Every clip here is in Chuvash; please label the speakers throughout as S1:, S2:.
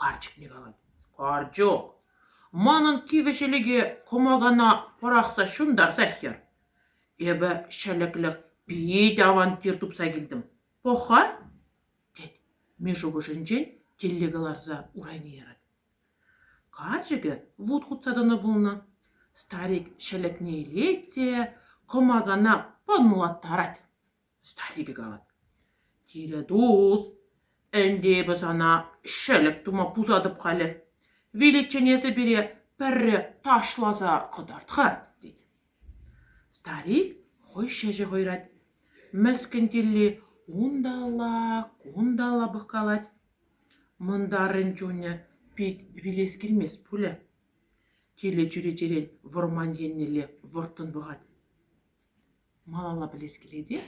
S1: Карчӑкне калать: «Карчӑк, манӑн кивӗ ҫӗлӗке кӑмакана пӑрахса ҫунтарса хӗр. Эпӗ ҫӗлӗклӗх пит авантюр тупса килтӗм. Пӑх-ха!» тет. Мишша шухӑшӗнчен тиле кӑларса урайне ярать. Карчӑкӗ вут хутса тӑнӑ пулнӑ. Старик ҫӗлӗкне илет те кӑмакана пӑнлаттарать. Старикӗ калать: «Тире тус, ӗнтӗ эпӗ сана ҫӗлӗк тума пусатӑп халӗ. Виличчен эсӗ пире пӗрре ташласа кӑтарт-ха», тет. Старик хӑй ҫӗҫӗ хӑйрать. Мӗскӗн тилли унталла, кунталла пӑхкалать. Мӑнтарӑн чунӗ пит вилес килмест пулӗ. Тилӗ чӳречерен вӑрман еннелле вӑрттӑн пӑхать. Малалла пӗлес килет-и?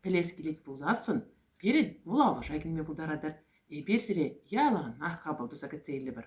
S1: Пӗлес килет пулсассӑн, пирӗн вулавӑша килме пултаратӑр. Эпир сире яланах хапӑл туса кӗтсе илӗпӗр.